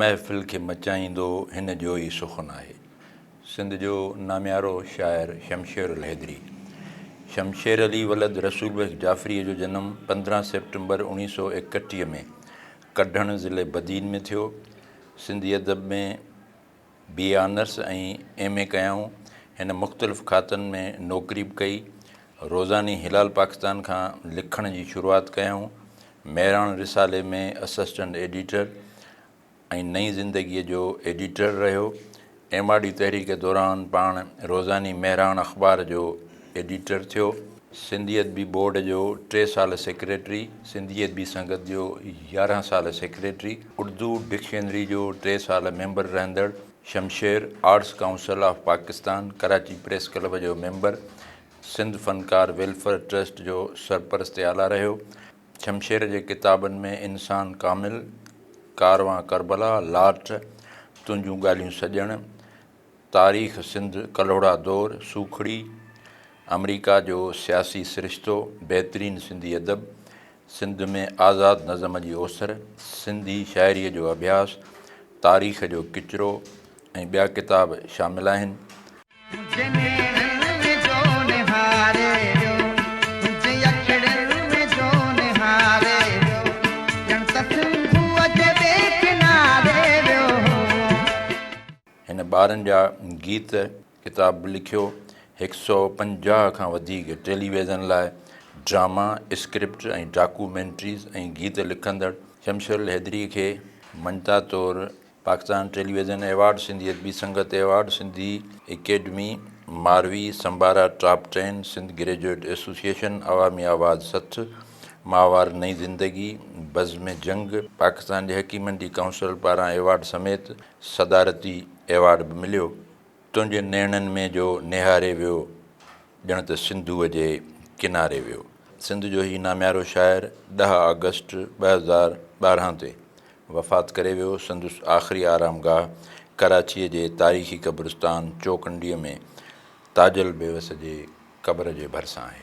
محفل کي مچائيندو هن جو ئي سخن آهي. سنڌ جو ناميارو شاعر شمشير الحيدري، شمشير علي ولد رسول بخش جعفريء جو جنم پندرهن سيپٽمبر اوڻيهه سؤ ايڪٽيهه ۾ ڪڍڻ ضلعي بدين ۾ ٿيو. سنڌي ادب ۾. B A honours ۽ M A ڪيائون. هن مختلف کاتن ۾ نوڪري به ڪئي. روزاني هلال پاڪستان کان لکڻ جي شروعات ڪيائون. مهراڻ رسالي ۾ اسسٽنٽ ايڊيٽر ۽ نئين زندگيء جو ايڊيٽر رهيو. ايم آر ڊي تحريڪ دوران پاڻ روزاني مهراڻ اخبار جو ايڊيٽر ٿيو. سنڌي ادبي بورڊ جو ٽي سال سيڪريٽري، سنڌي ادبي سنگت جو يارهن سال سيڪريٽري، اردو ڊڪشنري جو ٽي سال ميمبر رهندڙ Shamsher, arts council of Pakistan Karachi press club جو ميمبر، سنڌ فنڪار ويلفيئر ٽرسٽ جو سرپرست اعليٰ رهيو. شمشير جي ڪتابن ۾ انسان ڪامل، ڪاروان ڪربلا، لاٽ، تنهنجون ڳالهيون سڄڻ، تاريخ سنڌ ڪلهوڙا دور سوکڙي آمريڪا جو سياسي سرشتو بهترين سنڌي ادب سنڌ ۾ آزاد نظم جي اوسر سنڌي شاعريء جو اڀياس تاريخ جو ڪچرو ۽ ٻيا ڪتاب شامل آهن. هن ٻارن جا گيت ڪتاب به لکيو. هڪ سئو پنجاهه کان وڌيڪ ٽيلي ويزن لاء ڊراما، اسڪرپٽ ۽ ڊاڪو مينٽريز ۽ گيت لکندڙ شمشير الحيدري کي مڃتا طور Pakistan television award, Sindhi Adabi Sangat award, Sindhi academy Marvi, Sambara top ten, Sindh graduate association, عوامي آواز سٿ، ماهوار نئين زندگي، بزم جنگ، پاڪستان جي حڪيمن جي ڪائونسل پاران ايوارڊ سميت صدارتي ايوارڊ به مليو. تنهنجي نيڻن ۾ جو نهاري ويو، ڄڻ ته سنڌوء جي ڪناري ويو. سنڌ جو هي ناميارو شاعر ڏهه آگسٽ ٻه هزار ٻارهن تي وفات ڪري ويو. سندس آخري آرام گاهه ڪراچيء جي تاريخي قبرستان چوڪنڊيء ۾ تاجل بيوس جي قبر جي ڀرسان آهي.